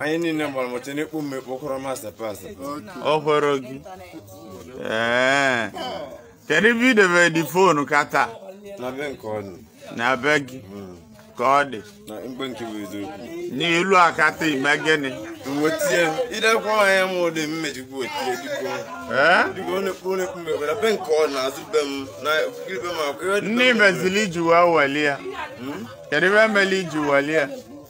anyị niile gbara mụcha n'ekpu m ekpu kwụrụ masta pasta ọ kwụrụ gị ee kedu ebe idebe the phone counter na be nke onye na be gị ka ọ dị na mgbe nke bụ eziokwu n'elu counter i mee gịnị m wetie idekwa anya m ụdị mmejikwu wetie dịka ee dịka ọ na-ekpu ọ na-ekpu m ekpu na be nke ọ nọ azụ be m na okirikiri be m akwụ ihe dị be ndị m. mezili i ji wee weli ya kedu ive meli i ji weli ya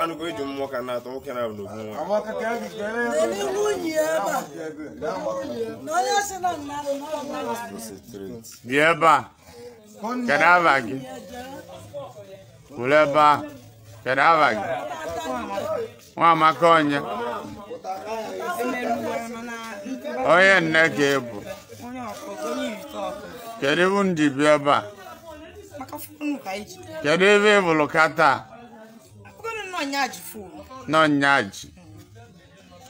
anụkọ iji mmụọ ka na-atọ nwoke na n'obu nwa bịa ebe a kedu ava gị kwụrụ ebe a kedu ava gị nwamaka onye onye nne ka ị bụ kedu ị bụ ndị bi ebe a kedu ebe ị bụrụ ka taa nọnyaji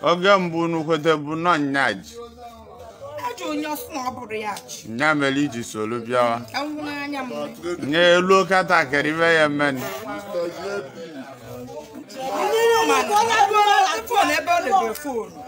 oge mbụ unu kweta bụ nọnyaji nya mere i ji soro bịawa n'elu counter kedu ive ya-emenụ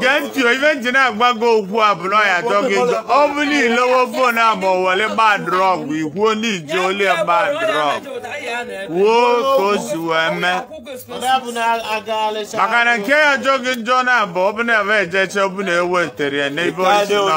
gee ntị ive m ji na-agbagọ okwu a bụ na ọ ya-ajọ gị njọ ọ bụ niile wo phone a ma ọ were gbaa drug ikwuo ndị iji oli ya gbaa drug kwuo ka o si wee mee maka na nke ya-ajọ gị njọ na abụ ọ bụ na ebe ejeche ọ bụ na e wetere ya n'ebe o si nọ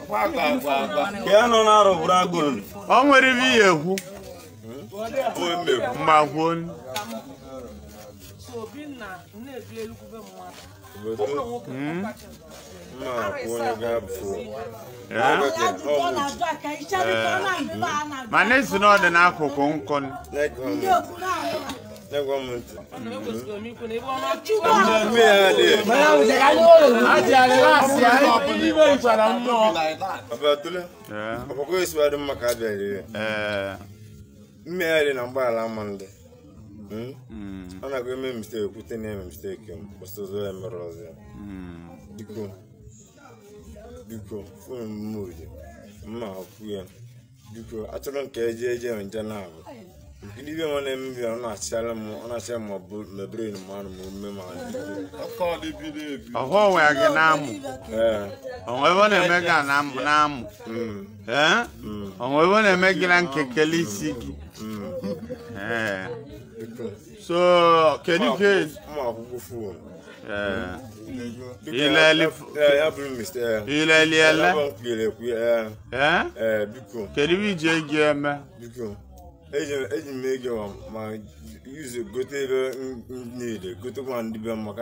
ka ya nọ na-arụ bụrụ agụrụ o nwere ive ihe ekwu mma kwuo mana ị sị na ọ dị n'akụkụ nkụ Negwa m ntị. Abatule. Ọkpọkọ esi wadị mma ka a bịara ire. Mmegharị na mgbaghara ama ndị. Ọ na-agụ eme mistake kwute na eme mistake m kwụsị ụzọ ya mere ọzọ ya. Biko. Biko. Fụrụ m mma oje. Mma akwụ ya. biko achọrọ m ka eje eje nje na ahụ gịnị ive nwa na-eme ive ọ na-achịara m ọ na-achịara m ọbụ mebere m anụ m ume ma ọhụ onwe ya gị n'amụ ee o nwee ive ọ na-eme gị n'amụ n'amụ mm, ee o nwee ive ọ na-eme gị na nkekele isi gị mm, ee biko so kedu nke mma akwụkwọ fon ilele ilele ele kedu ihe i ji ego eme eji m ego ma yuzu gote ebe m niile gote ma ndị be m maka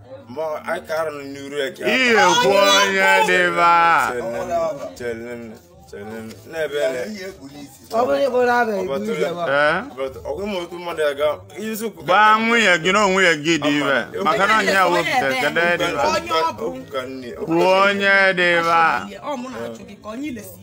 ihe kwu onye dịba gbaa nwunye gị na onwe gị dibe maka na onye wepụta kedu dịba kwuo onye dịba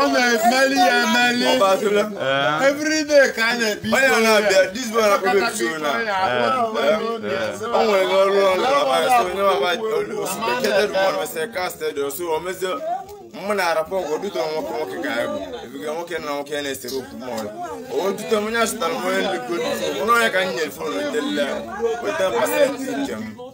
ọ na-emeli ya emeli everyday ka a na-ebi o nwere ọrụ ọrụ mụ na arapụ ọgwụ dute nwoke nwoke ka ya bụ ebiga nwoke na nwoke ya na-esere okwu m ọrụ o dute m onye asụtara m onye nlekọta onye ka m nyere fon weta pasentị nke m